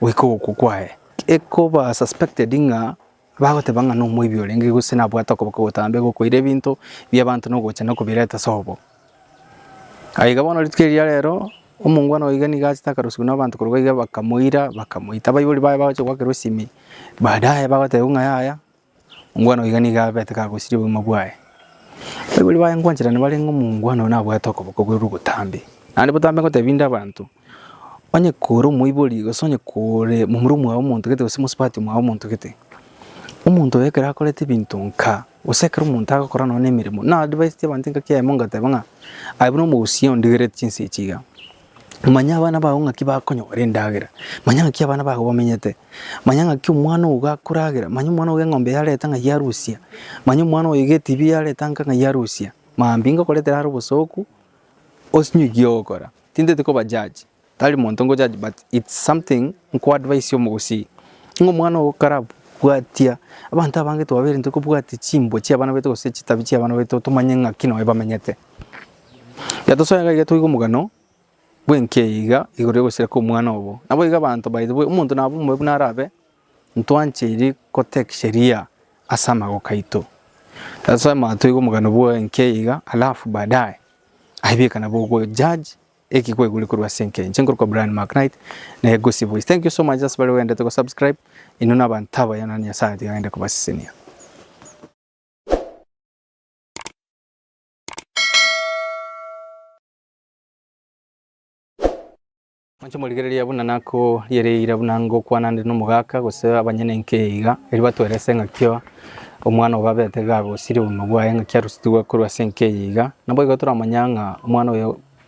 goika ogokwa kwaye. Ekoba suspected ng'a bagoteba ng'a nomoibi orenge gose nabwate okoboka ogotambe gokoira ebinto bi'abanto nogocha nokobireta ase obo. Aiga bono rituko eria rero omongwana oiga niga achete akarusigwa nabanto korwa iga bakamoira bakamoita abaibori baye bagocha goakerwa esimi baadaye bagotebiwa ng'a yaya Omwana oiga nigo abete kagosiria obogima bwaye. Abaibori baye ngwanchera nibarenge omongwana oyo nabwate okoboko bwe rwobotambe. Naende botambe ngotebi inde abanto, onye kore omoibori gose onye kore momura omwao omontogete gose mosubati omwao omontogete, omonto oyo ekero akorete ebinto nka gose ekero omonto agokora nonye nemeremo, na advisetie abanto engaki yaye mongateba ng'a aye buna omogusii ondigereti chinsa echi iga. Manya abana bao ng'aki bakonyora endagera, manya ng'aki abana bao bamenyete, manya ng'aki omwana ogo gakoragera, manya omwana ogo eng'ombe yareta ng'a yarusia, manya omwana oyo iga etibi yareta nka ng'a yarusia. Mambia ngokoretera are obosooku, osinywe eki ogokora. Tinteti koba judge, tari monto nko judge but it's something nko advise omogosii, ng'a omwana ogo karabwatia, abanto abange twabeire ntokobwatia chimbwa chiabana baito gose chitabi chiabana baito tomanye ng'aki nonye bamenyete. Gatosoe gaiga toigwe omogano bw'enki eyeiga igoro y'ogosira kw'omwana obo. Naboigo abanto by the way omonto nabo omobe buna arabe ntwancheiri gotake sheria ase amagoko aito. Gatosoe mambia toigwe omogano bw'enki eyeiga alafu baadaye aye bieka nabo ogo judge eki kwaigure korwa ase enki enche. Nkorokwa Brian Maknight na Egusi Voice. Thank you so much ase bare baendete go subscribe inwe na abanto abaya naende Nyasae atigagende kobasesenia. Inche morigereria buna nakoriereire buna ngokwana nde nomogaka gose abanyene inke iga, erio batwerese ng'akio omwana obo abete iga agosiria obogima bwaye ng'aki arusitigwe korwa ase enka eye iga. Naboigo toramanya ng'a omwana oyo.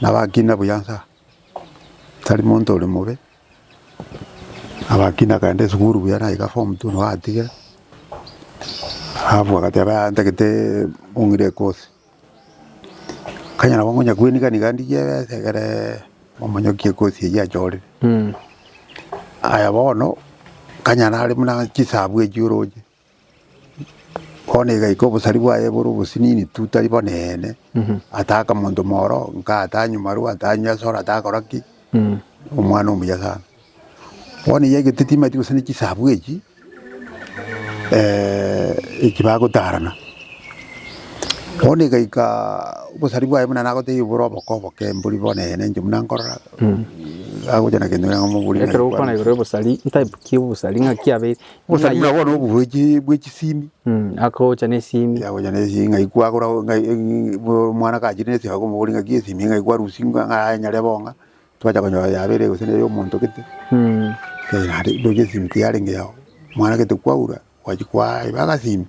Nabakina buya nsa, tari monto ore mobe, nabakina akaenda esukuru buya naika form two nigo atigire, alafu agateba yaya ntagete ong'ire ekosi. Kanya nabo ngonya kwenika niga ndigie ebesa egere omonyokie ekosi eyio achorire. Aya bono, kanya nare buna chisabu echio oroche. Bono igaika obosari bwaye bore obosinini tu tari bono eene, ataaka monto moro, nka atanywa marwa, atanywa esoro, atakora ki, omwana omuya sana. Bono eyi egento timanyeti gose ne chisabu echi eki bagotarana. Bono egaika obosari bwaye buna nagotebia bore oboke oboke mbori bono eene inche buna nkorora, agocha na gento kere ng'a mobori Ekero okwana igoro y'obosari, type ki y'obosari ng'aki abeire, Musa Ng'ai- buna bono obuhwechi bwe chisimi Mm, akocha nesimi yagocha nesimi ng'ai kwagora ng'ai ng'ai- bo- omwana kachire nesimi akomobori ng'aki esimi ng'ai kwarusia ng'a- ng'aenyare bo ng'a twacha konyora yabere gose nere omonto gete Mm, Eh, naende ndoche esimi ki yarenge yao omwana gete kwaura gwachi kwaeba agasimi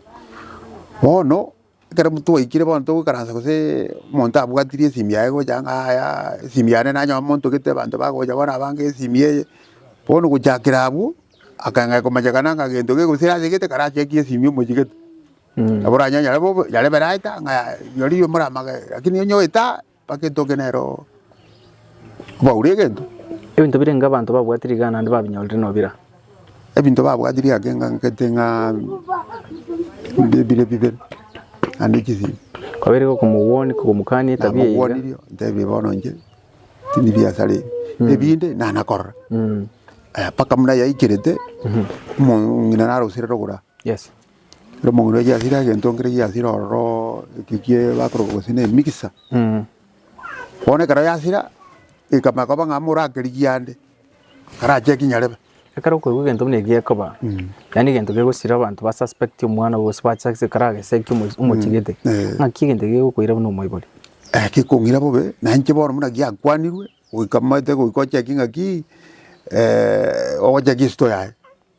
bono. Ekero twaikire bono togoikaransa gose omonto abwatirie esimi yaye gocha ng'a yaya esimi yane nanyora omonto gete abanto bagocha bono abange esimi eye, bono gochakera abwo, akanga komanyekana ng'a gento kegosira ase gete kara chekie esimi omochie gete. Nabo oranyore nyare bobe nyare beraeta ng'a yaya rirorio moramage lakini onye oeta Bagetoke nere oo obaure egento. Ebinto birenge abanto babwatire iga naende babinyorire nobira? Ebinto babwatire ake ng'ankete ng'a bire bibere naende chisiimi. Kwabeire gokomogwonia, kogomokania etabia eye iga. Namogwanirie ntebie bono inche tindi biasara ebi, ebinde nana korora. Mpaka buna yaikerete omong'ina narosire rogoro aa. Yes. Ere omong'ina oye giasire egento nkere giasire ororo eki kie bakoroka gose ne mixer. Bono ekero yasira ekamanya koba ng'a morakerigie ande karacheki nyarebe. Ekero okoigwa egento buna eki gekoba, yaani egento kegosira abanto ba suspect omwana obo gose bachak se karaseki omochi omochigete, eh. ng'aki egento eke gegokoira buna omoibori. Eh gekong'ira bobe, na inche bono buna giakwanirwe, goika momanyete goika ochekie ng'aki ogocheki store yaye.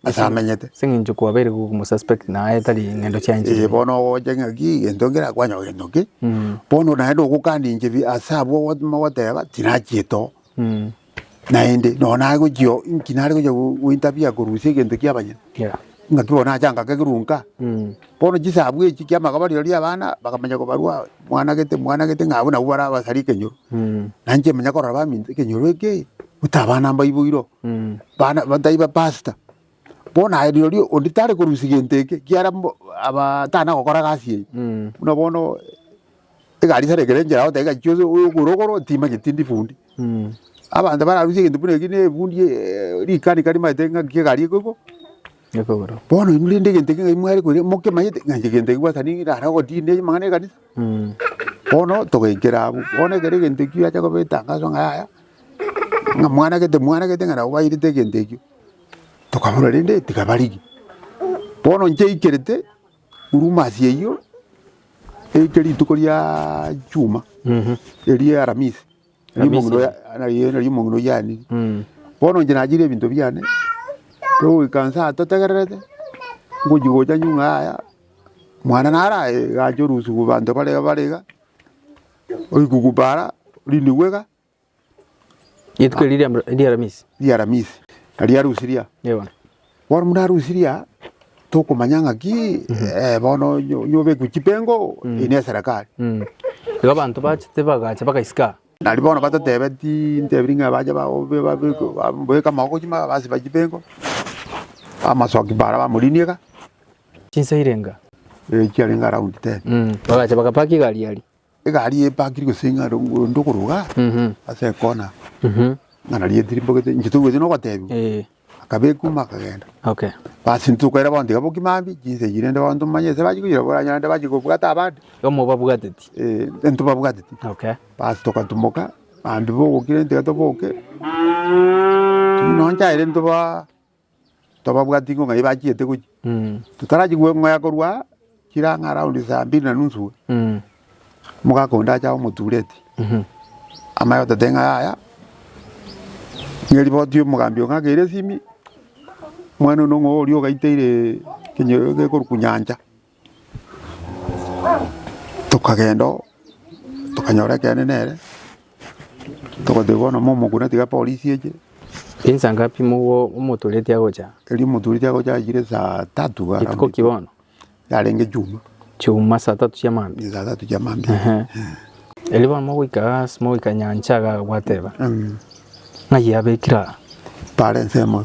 Ase amenyete. Ase eng'encho kwabeire gokomosuspect na aye tari ng'endo chia enchili. Ee, bono ogocha ng'aki gento ngerakwanyeho gento ki bono naende ogokana inche bi- ase abwo ogo mogoteba tinachiete oo naende nonye nagochia oo inki nare gochia go- gointerfere korusia egento kia abanyene Yeah. ng'aki bono nache anka kegerwa nka Mm. bono chisabu echi kia amagobori rirorio ria abana bakamanya kobarwa mwana gete mwana gete ng'a abwo nabwo barabasari ekenyoro Mm. na inche manya korora baminto ekenyoro eke buta abana mbaibo iro Bana taiba pastor. Bono aye rirorio ondi tare korusia gento eke kiara mbo aba tana gokora gasi eye. Mm. Buna bono egari sare ekere njera ote gachi ose oyo ogoro ogoro tima geti ndi fundi. Mm. Abanto bararusia gento buna eki ne fundi eh, rikani kari maete ngaki egari eko eko. Ekogoro. Bono inwe rende egento ekio ng'ai mware koria mokemanyete ng'a inche egento eki gwasani nare ogotinia amang'ana ekanisa. Mm. Bono togaikera abwo, bono ekero egento ekio giacha koba etangaso ng'a yaya, ng'a mwanagete mwanagete ng'a nabo bairete egento ekio, tokaboria rende tiga barigie. Bono inche aikerete Huruma eyio, eike rituko riaaa chuma, Mhm. erio Aramisi. na Rimong'ina Misiri. oya- na ri- na rimong'ina oyanire Mm. bono inche nachire ebinto biane togoika nsa aa totegererete ngochi gocha nyung'a yaya mwana naraye gacha orusu ku banto bare bare iga orikuku para orinigwe iga Rituko erio ria- ria Aramisi. ria aramisi na ria arusi ria Yebo. Bono buna Rusiria tokomanya ng'aki bono nyobekwe chipengo eye neserekari. Igo abanto bachete bagacha bagaisika. Nario bono batotebe tintebirie ng'a bache babeke amaboko chimbaga basiba chipengo, amasoki mbare bamorinie iga. Chinsa irenga. Chiarenge around ten. Bagacha bagapaka egari aria. Egari eye epakiri gose ing'are onde okoroga ase ekona ng'a nari etiri mbogete inche togwete nogotebiwa Eh, akaba ekuma akagenda okay. basi intwe tokaira bono tiga bokima mbi chinsa echi rende bono tomanye ase bachi koira boranyare rende bachi kobwata abande Igo mobabwateti. eh, intwe babwateti Okay. basi togatumoka bambi bogokire tiga toboke buna nchaire intwe ba tobabwati ng'o ng'ai bachiete gochia. Totarachi gweng'oya korwa aa, chire ang'e around saa mbiri na nusu iga, omogaka onde acha omotureti, amanye gototebia ng'a yaya, ng'a eriboti omogambi oo ng'ake ere esimi, omwana one ng'o oria ogaiteire ekenyoro eke ekorokwa nyancha, Tokagenda oo, tokanyora ekeene nere, togotebia bono mo omokune tiga epolisi eche. Insa ngapi mobwo omotoreti agocha? Erio omotoreti agocha achire saa tatu around. Rituko ki bono? Yarenge chuma. Chuma saa tatu chia mambia. Saa tatu chia mambia. Ehe. Erio bono mogoika ase mogoika nyancha iga agateba. Ng'ai yabekire aa? Bare ensemo.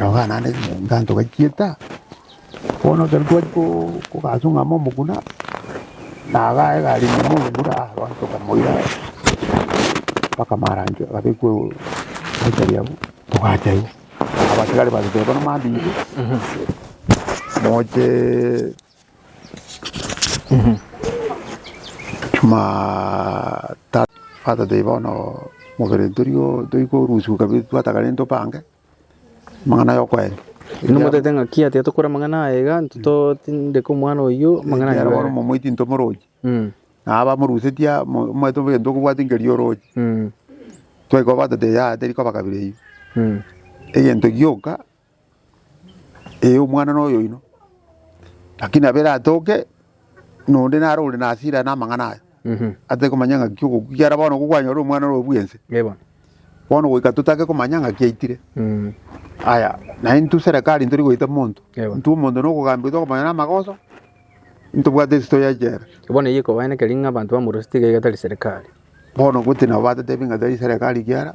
Rogo naende ekenyoro togachieta, bono ekero twachia koo kogachung'ama omoguna, naga egari ime omogura aa bono tokamoira mpaka maranchio agabekwa mochari abwo togacha iga. Abatigari bariteba bono mambia ime, mochee. Jumatatu, batatebia bono mobere torio toigwe orusiku kabere twatagare into pange amang'ana ya okoerio. Inwe motaete ng'a ki atiga tokore amang'ana aya iga, intwe to- tindeka omwana oyio amang'ana aya Ekiagera bono nabere. momoiti into morochi, Mm, na abamorusetie amo- omanyete obe egento okobwate nkeri orochi. mm, Twaika obatete yaya terikoba kabere eyio. mm. Egento gioka. Ee, omwana noyoino, lakini abe ratoke, nonde nare ore na hasira aya na amang'ana aya, atari komanya ng'aki ogokwa, ekiara bono nigo kwanyora omwana ore bwense, Ee bono. bono goika totake komanya ng'aki aitire. Mm. Aya, na intwe serekari ntori goita monto, Ewa. intwe omonto nokogambia goita komanya na amagoso, ntobwate esito ya echela. Bono eyio ekobaeneka ring'o abanto bamorosete iga iga tari serikali. Bono goti nabo batotebi ng'a tari serekari ekiara.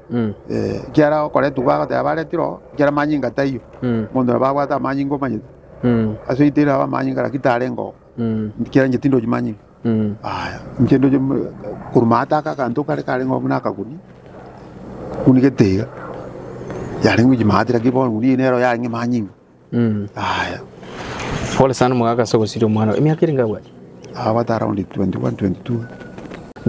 Mm. Eh, ekiara okoretwa bagoteba baretirwe oo, ekiara amanyinga taiyo Mm. omonto nabo abwate amanyinga omanyete Mm. ase oite irabe amanyinga naki tarenge oo Mm. ekiara inche tindochi manyinga Mm. aya inche ndoche m- korwa ase aka akanto kare karenge oo buna akaguni buna egetiga yarenge gochia maate naki bono eng'uni eye nero yarenge manyinga Aya. Pole sana omogaka ase ogosiria omwana oo. Emiaka erenge abwate? Abwate around 21, 22.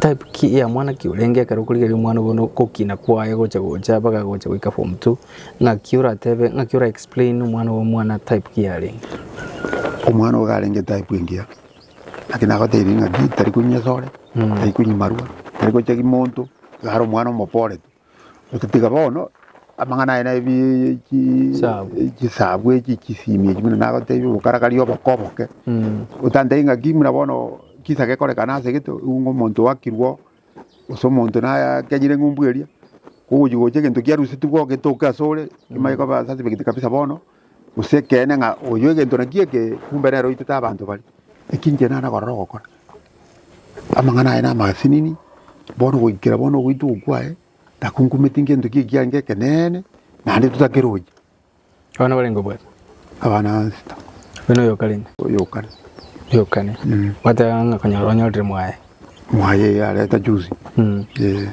Type ki ya mwana ki orenge ekero okorigereria omwana bono okokina kwaye gocha gocha mpaka gocha goika form two ng'aki oratebe ng'aki ora explain omwana obo omwana type ki yarenge? Omwana ogo arenge type engiya. Naki nagotebirie ng'aki tari konywa esore, tari konywa marwa, tari gocha ki monto, iga are omwana omopore tu. Otatiga bono amang'ana aye naye chisabu echi chisimie echi buna nagotebia obokarakari oboko oboke otantebie ng'aki buna bono kisa gekorekana ase egento ng'a omonto oakirwe gose omonto nakenyire eng'umbu eria kogochi gocha egento kiarusetigwe ogetoke asore kimanye koba sensible gete kabisa bono. Gose ekeene ng'a oyio egento nakio eke, kumbe nere oitete abanto baria. Eki inche nare korora ogokora. Amang'ana aye namasinini, bono goikera bono ogoitwa okwo kwaye, takunkumeti ngento ki ekiagera ngekeneene, naende totakeroche. Abana barenge obwate? Abana nsito. Buna oyo okarenge? Oyo okare. Oyo okare. Gwateba ng'a konyora onyorire mwaye. Mwaye eye areta juzi Mm. eh,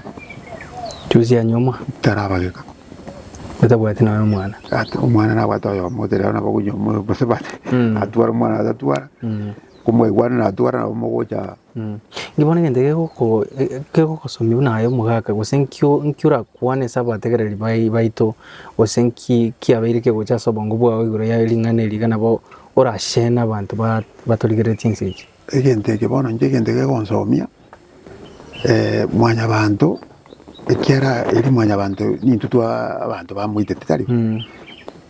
Juzi anyomwa tarabageka otabwati naye omwana. ati omwana nabwate oyomo ote rero nabo konyoma oyo gose bate Mm. atwara omwana atatwara Mm. komwaigwana natwara nabo mogocha Mm. Inki bono egento gegoko e- kegokosomia buna aye omogaka gose nkio nki orakwane ase abategereri bai- baito gose nki kiabeire kegocha ase obongo bwao igoro ya ring'ana eri iga nabo orashene abanto ba- batorigeretie ense echi. Egento eke bono inche egento gekonsomia mwanyabanto, ekiara eri mwanyabanto nintwe twa abanto bamoitete tari?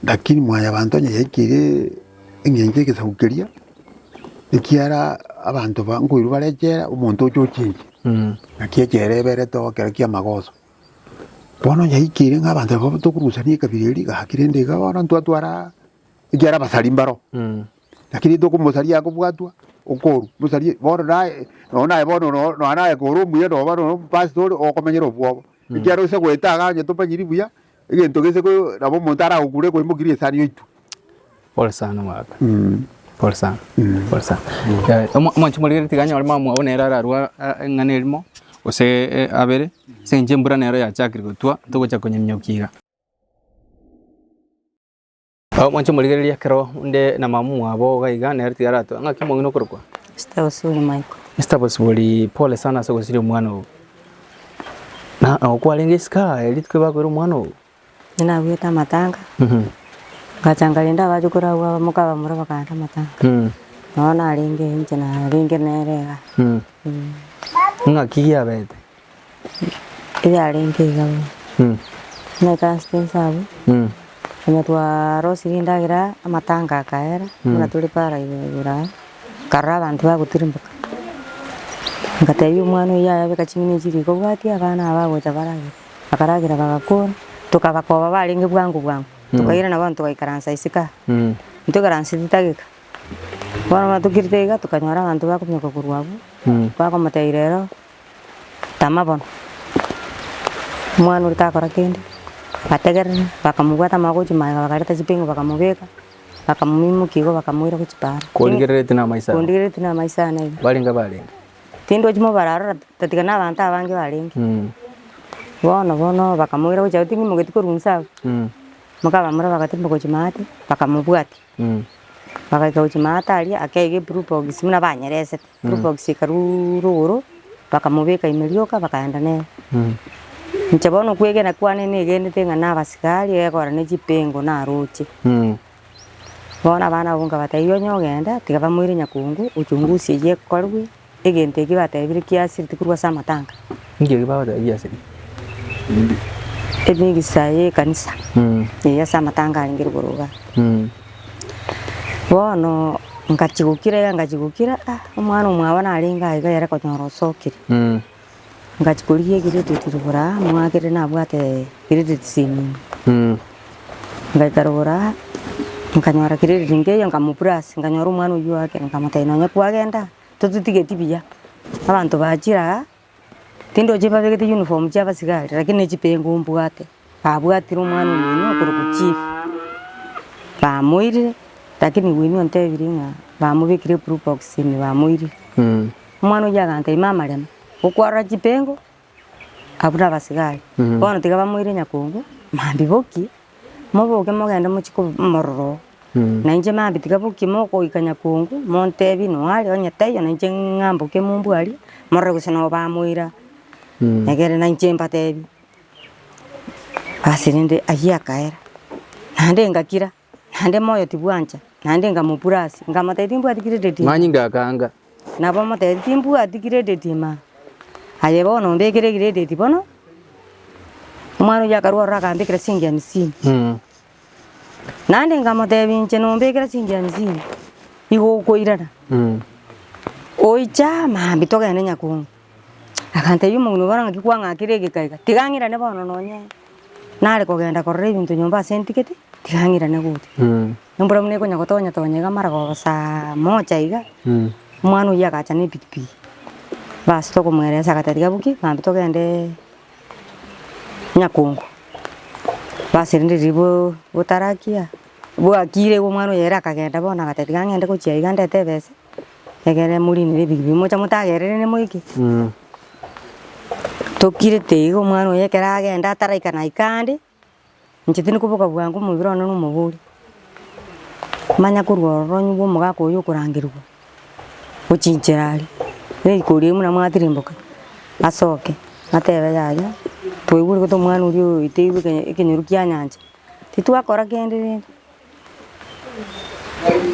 Lakini mwanyabanto onye yaikire eng'encho y'egesaku keria, ekiara abanto ba nkoirwa bare echela, omonto oche ochinche, naki echela eberete oo ekero kia magoso. Bono onye yaikire ng'a abanto abwo tokorusania ekabira eria, gaki rende iga bono ntwatwara ekiara abasari mbaro. Lakini tokomosaria akobwatwa okoru mosarie bono naye nonya naye bono nonya naye kore omuya noba nonya omopastori okomenyera obwoba mm. ekiagera ose goeta iga onye tomanyiri buya egento gese nabo omonto aragokure ekoimokirie esani yaitwe Pole sana mwaka. Mm. Pole sana. Mm. Pole sana. Mm. Eh, Omwanchi morigeri tiganya ore mama wao nera ararwa eh, ng'ana erimo ose eh, abere se nje mbura nero yachakire gotwa togocha konyeminyokiga Nabo mwanche morigererie ekero onde na mama mwabo iga iga, nere tiga aratue. Ng'aki mwang'ina okorokwa? Mister Osuri Michael. Mister Bosibori, pole sana ase ogosiria omwana oo. Na nabo kwarenge isiko aye rituko bakoire omwana oo? Inche nabuete amatanga, Mhm. ngacha nkarenda abache koragwa abamoka abamura bakanta amatanga. Mm. Nabo narenge inche narenge nere iga. Mm. Mm. Ng'aki giabete? yarenge iga bono, na egaste ense abwo, onye twarosirie endagera amatanga akaera, buna tore paara iga igoro aa, nkarora abanto bagotirimboka, ngatebia omwana oyio yaya beka ching'eni echi riko obwati abana aba bagocha baragere, bakaragera bagakora, tokabakoba barenge bwango bwango, tokairana bono togaikaransa isiko aa, ntoikaranseti tageka, bono muna tokirite iga tokanyora abanto bakominyoka korwa abwo, bakomotebia rero. Tama bono. Omwana oria takora kende, bategerera, bakamobwata amagoko gochia magega bakareta chipingo bakamobeka, bakamoimokia igo bakamoira gochia paaro. Korigereretie namaiso aya. Kondigereretie namaiso aya naende. Barenge barenge. Tindwati mobaro aroro ta tiga na abanto abange barenge. Bono bono bakamoira gochia abwo tindi mogeti korwa inse abwo. Mokabamura bagatiga gochia maate, bakamobwatia. Bagaika gochia maata aria akaiga eblue box buna banyeresete, blue box ekaruura igoro, bakamobeka ime rioka bakaenda nere. Inche bono kwegena kwane negenete ng'a na abasigari egora ne chipengo naroche. Bono abana abwo nkabatebia onye ogenda tiga bamoire nyakungu ochungusie eye ekorwa Egento eki batebirie kiasireti korwa ase amatanga. Inki eki bagoteba giasireti? Eri negesaha ye ekanisa eye ase amatanga arenge igoro iga. Bono ngachia gokira iga ngachia gokira omwana omwabo narenge aiga ere konyora osokire. Ngachia korigia egredeti rogoro aa, nigo ng'akire nabwate gredeti semino. Ngaika rogoro aa, nkanyora gredeti nkeiyo nkamopurasi, nkanyora omwana oyio oake, nkamotebia nonye kwagenda tototigeti buya, abanto bachire aa, tindoche babegete uniform chia abasigari, lakini ne chipengo mbwate. Abwatire omwana omoino okorokwa chief, bamoirire, lakini oino ontebiri ng'a bamobekire blue box ime bamoirire. Omwana oyio agantebia mama rema gokwarora chipengo abwo na abasigari, bono tiga bamoire nyakongo, mambia boki moboke mogende mochie ko mororo oo. Na inche mambia tiga boki mogoika nyakongo montebie noo are onye taiyo na inche ng'amboke mombwarie morore gose noo bamoira egere na inche mbatebie. Ase rende ayio akaera, naende ngakira, naende moyo tibwancha, naende nkamopura ase, nkamotebia timbwati credit ime. Ng'anyinga akaanga. Nabo omotebia timbwati credit ime. Aye bono ombekere credit bono, omwana oyio akarwa ororo akambekera chisiringi hamsini. Naende nkamotebia, Inche nombekera chiinki hamsini, igo okoirana? Oicha mambia togende Nyakungu. Akantebia, Omong'ina obara ng'aki kwang'akire egeka iga? Tiga ng'irane bono nonye nare kogenda korora ebinto nyomba ase ntigete, tiga ng'irane gocha. Embura buna ekonya gotonya tonya iga mara koba saa moja iga, omwana oyio agacha na epikipiki. Bas tokomoeresia agateba, Tiga boki, mambia togende. Nyakongo, baserenire riboo gotarakia, bwakire igo omwana oye ere akagenda bono agata tiga ng'ende gochia iga ndete ebese, egere morinere ebiribio mocha motagerere ne moike. Tokirete igo omwana oye ekero agenda ataraika naika ande. Inche tindi koboka bwango omobere one na omobori, manya korwa ororo nyebwa omogaka oyo okorangerigwa ochinchera aria, riko riaye buna mwatirimboka asoke atebe yaya twaigure gete omwana oria oeteirwe eke- ekenyoru kia nyancha, titwakora kende rende,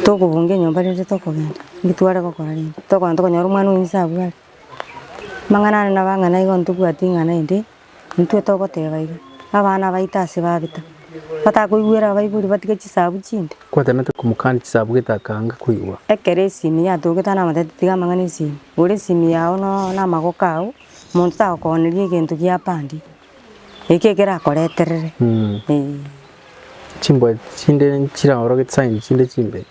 tokobunga enyomba rende tokogenda, naki tware gokora rende, tokogenda tokonyora omwana oyo inse abwate, amang'ana ande nabang'ana igo ntobwati ing'ana ende. Intwe togoteeba iga, abana baito ase babeta, batakoigwera abaibori batige chisabu chinde? Kwatenete komokania chisabu gete akanga koigwa. Ekero esimi yatogete anamotete tiga amang'ana esimi, gora esimi yao no namagoko ao, monto tagokooneri egento giapandi, eki ekero akoreterere eeh. Chimbwa chinde nchiraorogete sign chinde chimbe.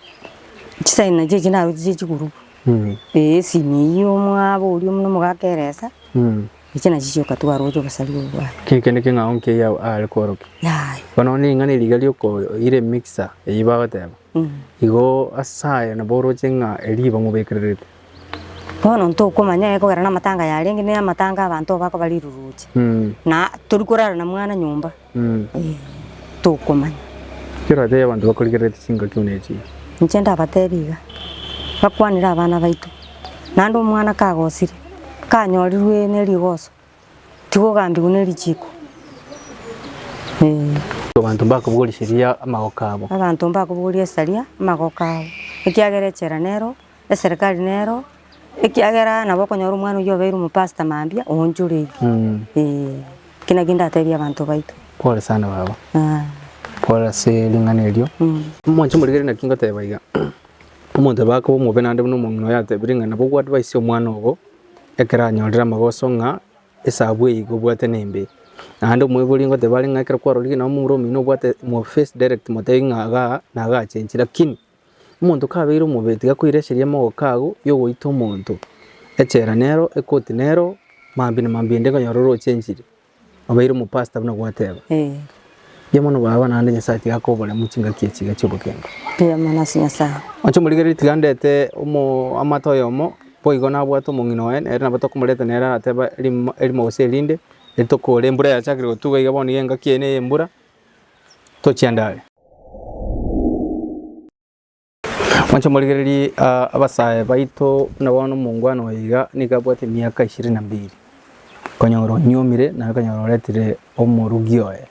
Chisaini nachi echi naroche chie chigurubu, eeh esimi eyio omwabo oria buna omogaka eresa. Echi nachi chioka twaroche obosari obo bwao. Kiri kende king'ao nkiya Yahweh aare kworokia. Yaya. Bono ning'ana riga riokoira emixer eyio bagoteba, igo ase aye nabo oroche ng'a erio iba mobekererete. Bono ntokomanya aye kogera namatanga yarenge namatanga abanto abakobariruruche. Na torikorara na mwana nyomba. Ee, tokomanya. Ekero atebi abanto bakorigereretie chingaki buna echi. Inche ndabatebi iga, bakwanire abana baito, naende omwana kagosire, kanyorirwe ne rigoso, tiga ogambigwe ne richiko. Ee. Abanto mbakobogorie seria amagoko abo. Abanto mbakobogorie saria amagoko abo, ekiagera echela nero. eserikari nero ekiagera nabo okonyora omwana oyio obeire omopasta mambia oonchoreiri. Mm. Eh, eki naki ndatebie abanto baito. Pole sana baba. Ah, Pole ase ring'ana erio. mm. Moche morigererie naki ngoteba iga. Omonto obe akoba omobe naende buna omong'ina oyo atebire ng'a nabo ogoadvisie omwana obo ekero anyorire amagoso ng'a esabu eye igo obwate nembe. Naende omoibori ngoteba are ng'a ekero kwarorire nonye momura omino obwate mo face direct motebi ng'a igaa nagachenchire lakini. Omonto kabeire omobee tiga koireseria amagoko agwo y'ogoita omonto echela nero ekoti nero mambia na mambia inde konyora oroche enchili obeire omopasta buna gwateba. Eh. Mbuya mono baba naende Nyasaye tiga akobore mu chingaki echi iga chi'obogima. Mbuya mono ase Nyasaye. Oche omorigererie tiga ndete omo amata oyomo boigo nabwate omong'ina oye nere nabo tokomoreta nere arateba erimo erimo gose erinde, eri tokore embura yachakire gotuba iga bono iga engaki eye neye embura Tochia ndare. Mwanche morigererie abasae baito buna bono omongwana oye iga nigo abwate emiaka ishirini na mbili, okonyora onyuomire naye okonyora oretire omorugi oye.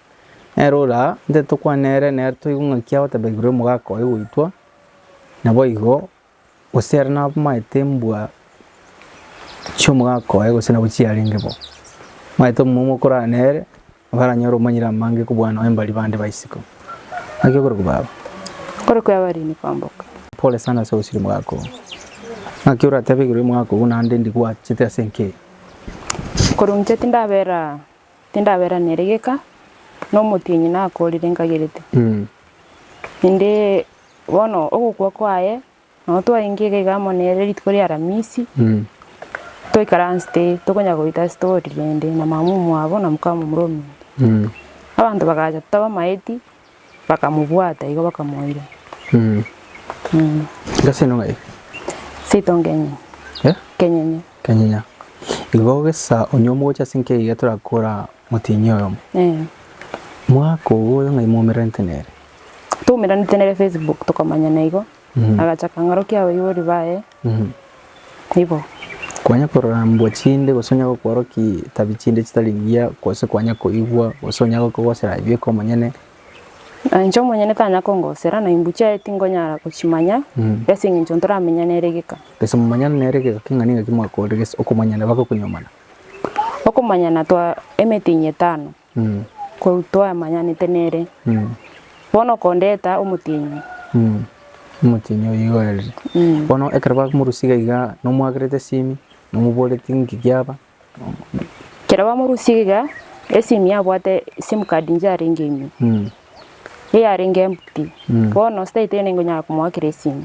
Nere ore aa ntitokwane nere, nere toigwe ng'aki agoteba igoro y'omogaka oye goitwa, naboigo. Gose ere nabamaete mbwa chi'omogaka oye gose nabwo chiarenge bo, omanyete omomo okorara nere naranyore omanyire amange kobua noe mbari bande ba isiko. Naki okorokwa baba. Okorokwa abarini kwamboka. Pole sana ase ogosira omogaka oo. Naki oratebe igoro y'omogaka ogo naende ndigwachete ase enka eye. Korwa inche tindabera Tindaberanere geka nomotienyi nakorire nkagerete, inde bono ogokwa kwaye nabo twarenge iga iga amo nere rituko ria aramisi toikaransete tokonya goita story rende na mama omwabo na mokamomura omonto. Abanto bagacha totaba maeti. Bakamobwata igo bakamoira. Ngasino ng'ai? Seito nkenyenye. Eh? Nkenyenye. Nkenyenye. Igo gesa onye omogocha ase nkei iga torakora motienyi oyomo. Eh. Mwaka ogo oyo ng'ai mwaumeranete nere? Twaumeranete nere Facebook tokomanyana igo. agacha akang'orokia abaibori baye ibo. Kwanya korambwa chinde gose onye gokworokia tabi chinde chitari ngiya gose kwanya koigwa gose onye agokogosera aye bweka omonyene. Na inche omonyene tanya kongosera na imbu chiaye tingonyara gochimanya ase engencho ntoramenya nere geka. Gese momanyana nere geka king'ani ng'aki mwakorire gese okomanyana baga okonyuomana. Okomanyana twa emetinyi etano. Korwa twamanyanete nere, bono kondeta omotienyi. Omotienyi oyo igo aerire. Bono ekero bakomorusia iga iga nomoagerete esimi, nomoboreti nki giaba. Ekero bamorusia iga iga, esimi yabwate sim card inche yarenge ime, eyarenge empty. Bono staiteno nigo nyara komoakera esimi.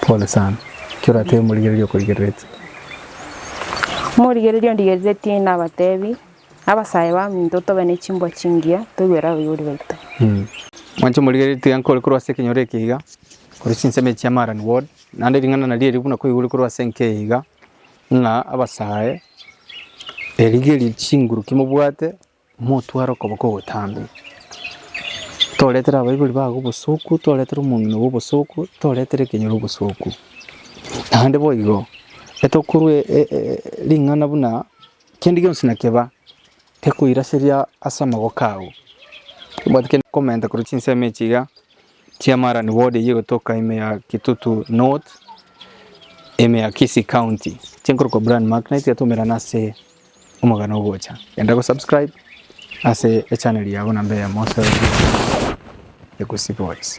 Pole sana. Ki oratebe omorigereria okorigerereti? Omorigereria ondigereretie nabatebi, Abasae baminto tobe ne chimbwa chingiya, toigwere abaibori baito. Mwanche omorigereria tiga nkore korwa ase ekenyoro eke iga, korwa chinsemo echi chia Marani Ward, naende ring'ana naria erio buna koigure korwa ase enka eye iga, ng'a abasae erigerie chinguru ki mobwate. Motware okoboko ogotambe, toretere abaibori bago obosoku, toretere omong'ina obo obosoku, toretere ekenyoro obosoku. Naende boigo, etokorua ring'ana buna kende gionsi nakeba gekoiraseria ase amaboko ao. Tobwati kende komenta korwa chinsemo echi iga chia Marani ward eywo egotoka ime ya Kitutu North, ime ya Kisii County, echia nkorokwa Brian Macknight, tiga twaumerana ase Omogano ogocha. Genda go subscribe ase echannel yabo namba eyemo ase Egusi Boys.